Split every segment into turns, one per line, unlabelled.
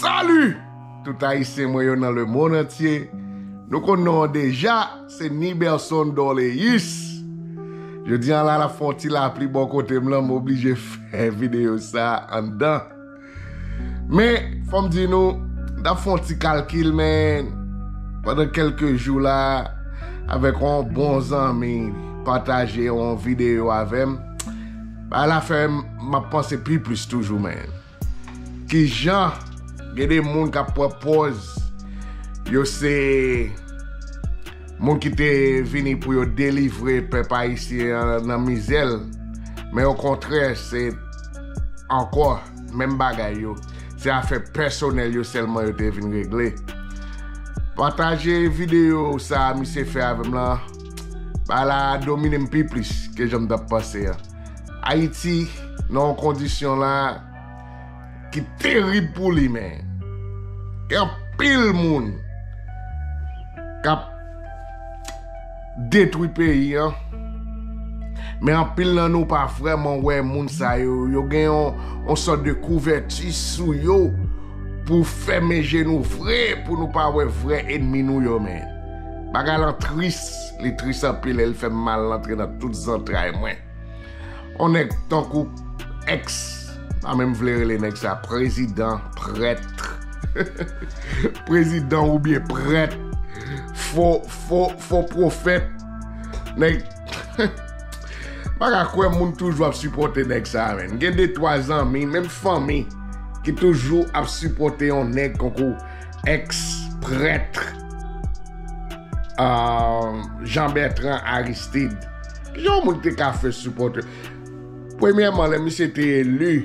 Salut tout ayisyen mwen yo nan le mond antye nou konn non an deja se Niberson Dorleus jodi an la lap fè yon ti lapli bò kotem lan m oblije fè video sa anndan. Men, fò m di nou, m t ap fè yon ti kalkil men, pandan kèlke jou la, avèk yon bon zanmi ki pataje yon videyo avè m, bagay la fè m ap panse pi plis toujou men. Ki jan gen de moun k ap pran pòz yo se. Moun ki te vini pou yo delivre pèp ayisyen an nan mizè l, men okontrè se ankò menm bagay yo, se afè pèsonèl yo sèlman yo te vin regle. Pataje videyo sa a misye fè avè m lan, bagay la domine m pi plis ke jan m t ap panse an. Ayiti nan yon kondisyon la. ki terib pou li men gen anpil moun kap detwi peyi an men anpil nan nou pa vreman wè moun sa yo yo gen yon sòt de kouvèti sou yo pou fèmen je nou vre pou nou pa wè vre enmi nou yo men bagay lan tris li tris anpil el fèm mal lantre nan tout zantray mwen. On nèg tankou ex pa menm vle rele nèg sa prezidan prètre prezidan ou byen prèt fo fo fo profèt nèg pa ka kwè moun toujou ap sipote nèg sa menm gen de twa zanmi menm fanmi ki toujou ap sipote on nèg konkou ex prètre aah Jean Bertrand Aristide. Ki jan yon moun te ka fè sipòte? Premyèman, lè misye te eli,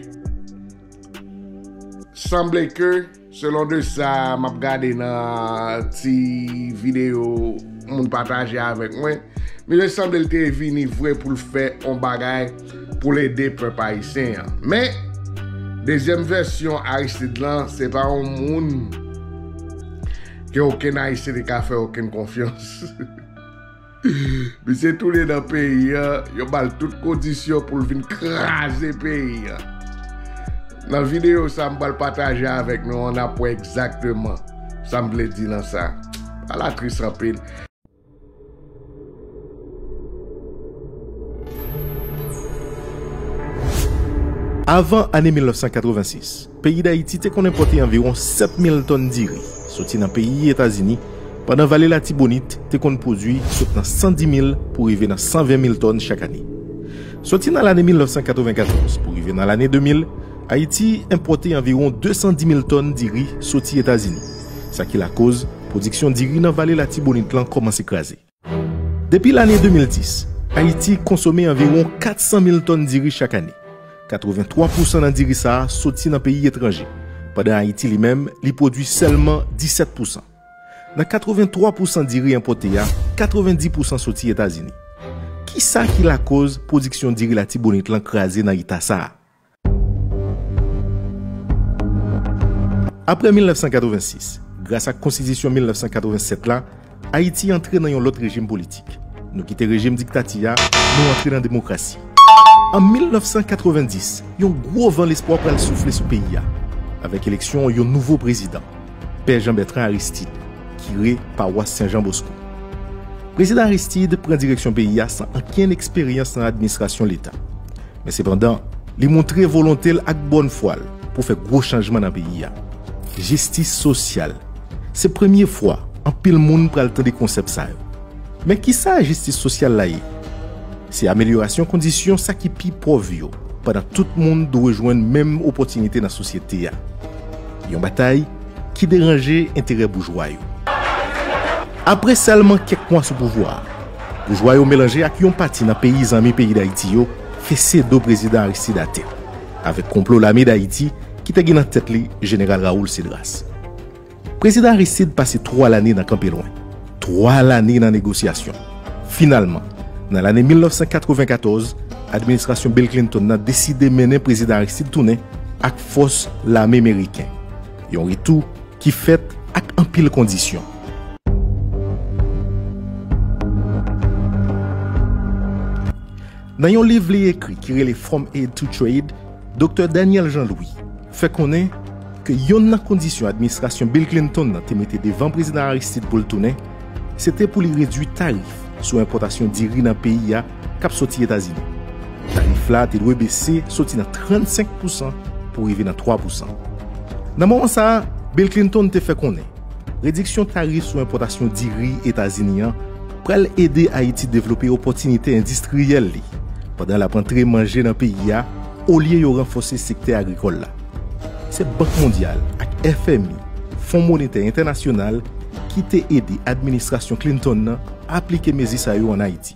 sanble ke, selon de sa m ap gade nan ti videyo moun pataje avèk mwen, misye sanble l te vini vre pou l fè yon bagay pou l ede pèp ayisyen an. Men, dezyèm vèsyon Aristide lan, se pa yon moun ke okenn Ayisyen te ka fè okenn konfyans. Misye tounen nan peyi an, yo bal tout kondisyon poul vin kraze peyi an. Nan video sa m pral pataje avèk nou an nap wè egzakteman sam vle di nan sa. A la tris anpil.
Avan ane 1986. Peyi Dayiti te konn enpòte anviwon 7 mil tòn diri soti nan peyi Etazini, pandan Vale Latibonit te konn pwodui sot nan 110 mil pou rive nan 120 mil tòn chak ane. Soti nan lane 1994 pou rive nan lane 2000, Ayiti enpòte anviwon 210 mil tòn diri soti Etazini, sa ki lakoz pwodiksyon diri nan Vale Latibonit lan kòmanse kraze. Depi lane 2010, Ayiti konsome anviwon 400 mil tòn diri chak ane. 83 pousan nan diri sa a soti nan peyi etranje, pandan Ayiti li menm li pwodui sèlman 17 pousan. Nan 83 pousan diri enpòte a, 90 pousan soti Etazini. Kisa ki lakoz pwodiksyon diri Latibonit lan kraze nan eta sa a? Aprè 1986, gras ak Konstitisyon 1987 la, Ayiti antre nan yon lòt rejim politik. Nou kite rejim diktati a, nou antre nan demokrasi. An 1990, yon gwo van lespwa pral soufle sou peyi a, avèk eleksyon yon nouvo prezidan, Pè Jan Bètran Aristid, kire pawas Sen Jan Bosko. Prezidan Aristid pran direksyon peyi a san ankenn eksperyans nan administrasyon Leta. Men sepandan, li montre volonte l ak bòn fwa l pou fè gwo chanjman nan peyi a. Jistis sosyal, Se premye fwa anpil moun pral tande konsèp sa yo. Men ki sa jistis sosyal la ye? Se amelyorasyon kondisyon sa ki pi pòv yo pandan tout moun dwe jwenn menm opòtinite nan sosyete a. Yon batay ki deranje enterè boujwa yo. Apre sèlman kèk mwa sou pouvwa a, Boujwa yo melanje ak yon pati nan peyi zanmi peyi Dayiti yo fese do prezidan Aristide atè avèk konplo lame Dayiti ki te gen nan tèt li jeneral Raoul Cedras. Prezidan Aristide pase 3 lane nan kanpe lwen, 3 lane nan negosyasyon. Finalman, nan lane 1994, administrasyon Bill Clinton nan deside mennen prezidan Aristide tounen ak fòs lame meriken. Yon retou ki fèt ak anpil kondisyon. Nan yon liv li ekri ki rele From Aid to Trade, Doktè Daniel Jean Louis fè konnen ke yonn nan kondisyon administrasyon Bill Clinton nan te mete devan Prezidan Aristide pou l tounen, se te pou li redui tarif sou enpòtasyon diri nan peyi a k ap soti Etazini. Tarif la te dwe bese soti nan 35 pousan pou rive nan 3 pousan. Nan moman sa a, Bill Clinton te fè konnen rediksyon tarif sou enpòtasyon diri Etazini an pral ede Ayiti devlope opòtinite endistriyèl li pandan l ap antre manje nan peyi a olye yo ranfòse sektè agrikòl la. Se Bank Mondyal ak FMI, Fon Monetè Entènasyonal, ki te ede administrasyon Clinton nan aplike mezi sa yo ann Ayiti.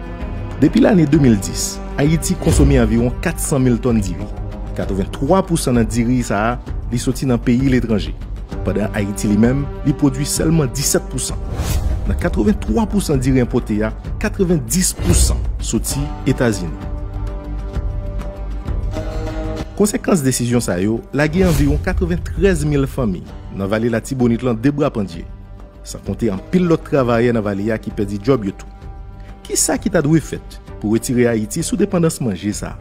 Depi lane 2010, Ayiti konsome anviwon 400 mil tòn diri. 83 pousan nan diri sa a, li soti nan peyi letranje. Pandan Ayiti li menm, li pwodui sèlman 17 pousan. Nan 83 pousan diri enpote a, 90 pousan soti Etazini. Konsekans desizyon sa yo lage anviwon 93 mil fanmi nan Vale Latibonit lan de bra pandye. San konte anpil lòt travayè nan vale a ki pèdi djòb yo tou. Ki sa ki ta dwe fèt pou retire Ayiti sou depandans manje sa?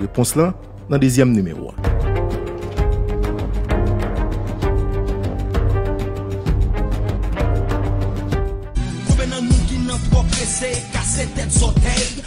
Repons lan nan dezyèm nimewo a. Konbyen
nan nou ki nan twò prese kase tèt zòtèy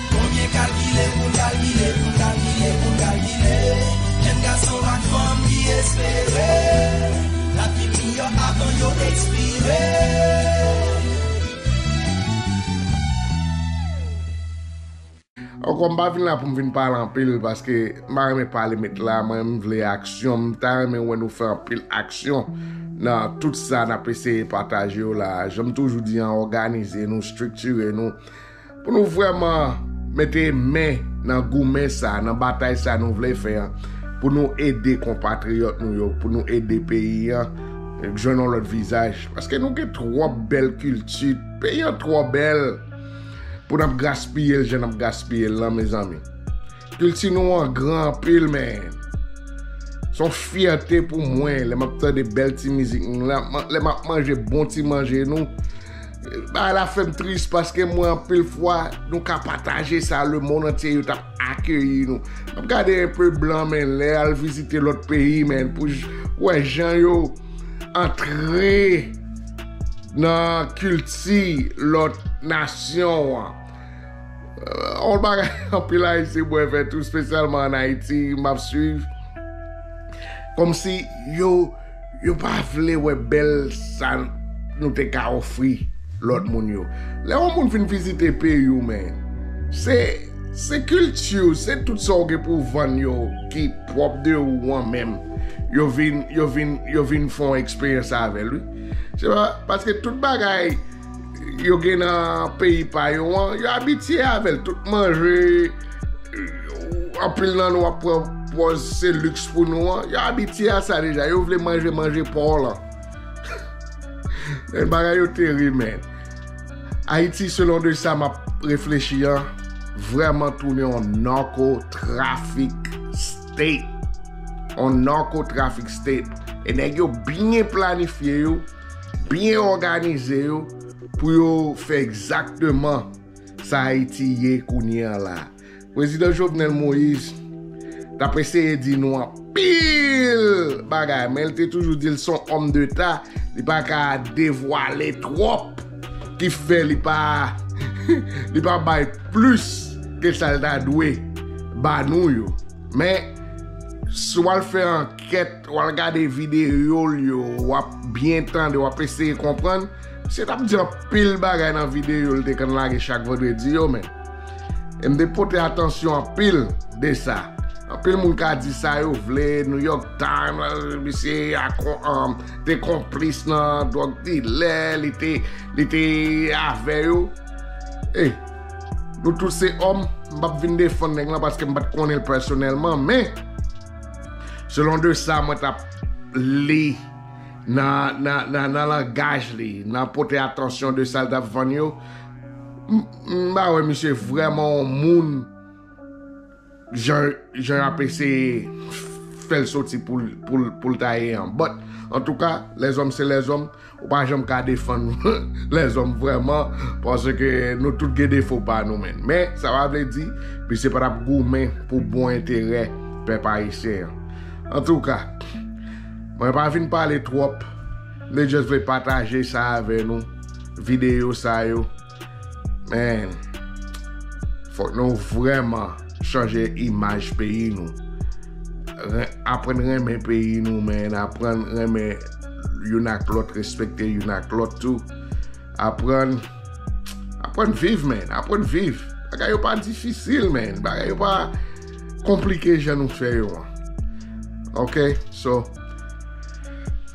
Konbyen kalkile poun kalkile poun kalkile poun kalkile Jèn gason ak fanm ki espere Lap vin miyò avan yo ekspire Ankò m pa vin la pou m vin pale anpil paske m pa renmen pale met la mwen m vle aksyon m ta renmen wè nou fè anpil aksyon nan tout sa nap eseye pataje yo la janm toujou di an òganize nou striktire nou Pou nou vrèman mete men nan goumen sa, nan batay sa nou vle fè an, pou nou ede konpatriyòt nou yo, pou nou ede peyi an jwenn yon lòt vizaj. Paske nou gen twòp bèl kilti, peyi an twò bèl pou n ap gaspiye l jan n ap gaspiye l lan mezanmi. Kilti nou an gran anpil men. Son fyète pou mwen lè map tande bèl ti mizik nou la, lè map manje bon ti manje nou. Bagay la fèm tris paske mwen anpil fwa nou ka pataje sa le mond antye yo tap akeyi nou. Map gade enpe blan men lè al vizite lòt peyi men pou wè jan yo antre nan kilti lòt nasyon an. On bagay anpil ayisyen bwè vè tou spesyalman an Ayiti map swiv kòmsi yo yo pa vle wè bèl sa nou te ka ofri lòt moun yo. Lè on moun fin vizite peyi w men se se kilti w se tout sa w gen pou w vann yo ki pwòp de ou an menm yo vin yo vin yo vin fè on eksperyans avè l wi se pa paske tout bagay yo gen nan peyi pa yo an, yo abitye avè l. Tout manje, anpil nan nou ap pran pòz se liks pou nou an, yo abitye a sa deja. Yo vle manje manje pa w lan. Men bagay yo terib men. Ayiti selon de sa m ap reflechi an, vrèman tounen yon narco traffic state. Yon narco traffic state. E nèg yo byen planifye yo. Byen òganize yo pou yo fè egzakteman sa Ayiti ye kounye an la. Prezidan Jovenel Moïse t ap eseye di nou anpil bagay men l te toujou di l s on òm deta li pa ka devwale twòp ki fè li pa li pa bay plis ke sa l ta dwe ba nou yo men si w al fè ankèt Wal gade videol yo wap byen tande wap eseye konprann misye tap di anpil bagay nan videyo li te konn lage chak vandredi yo men em te pote atansyon anpil de sa anpil moun ka di sa yo vle New York Times misye te konplis nan drug dilè li te li te avè yo hey nou tout se òm m pap vin defann nèg lan paske m pat konnen l pèsonèlman men. Selon de sa mwen tap li nan langaj li, nan pote atansyon de sa li tap vann yo, m pa wè misye vrèman yon moun jan yo ap eseye fè l soti pou l ta ye an. But, antouka, lèzòm se lèzòm. Ou pa janm ka defann lèzòm vrèman paske nou tout gen defo pa nou menn. Men, sa pa vle di misye pa t ap goumen pou bon enterè pèp ayisyen an. Antouka, mwen pa vin pale twòp, m te jis vle pataje sa avè nou, videyo sa yo. Man, fòk nou vrèman chanje imaj peyi nou. Aprann renmen peyi nou man, aprann renmen youn ak lòt, respekte youn ak lòt tou. Aprann, aprann viv man, aprann viv. Bagay yo pa difisil man, bagay yo pa... konplike jan nou fè yo an ok so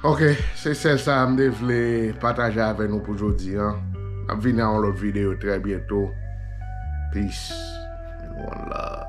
ok se sèl sa m te vle pataje avè nou pou jodi an map vini a yon lòt videyo trè byento peace and one love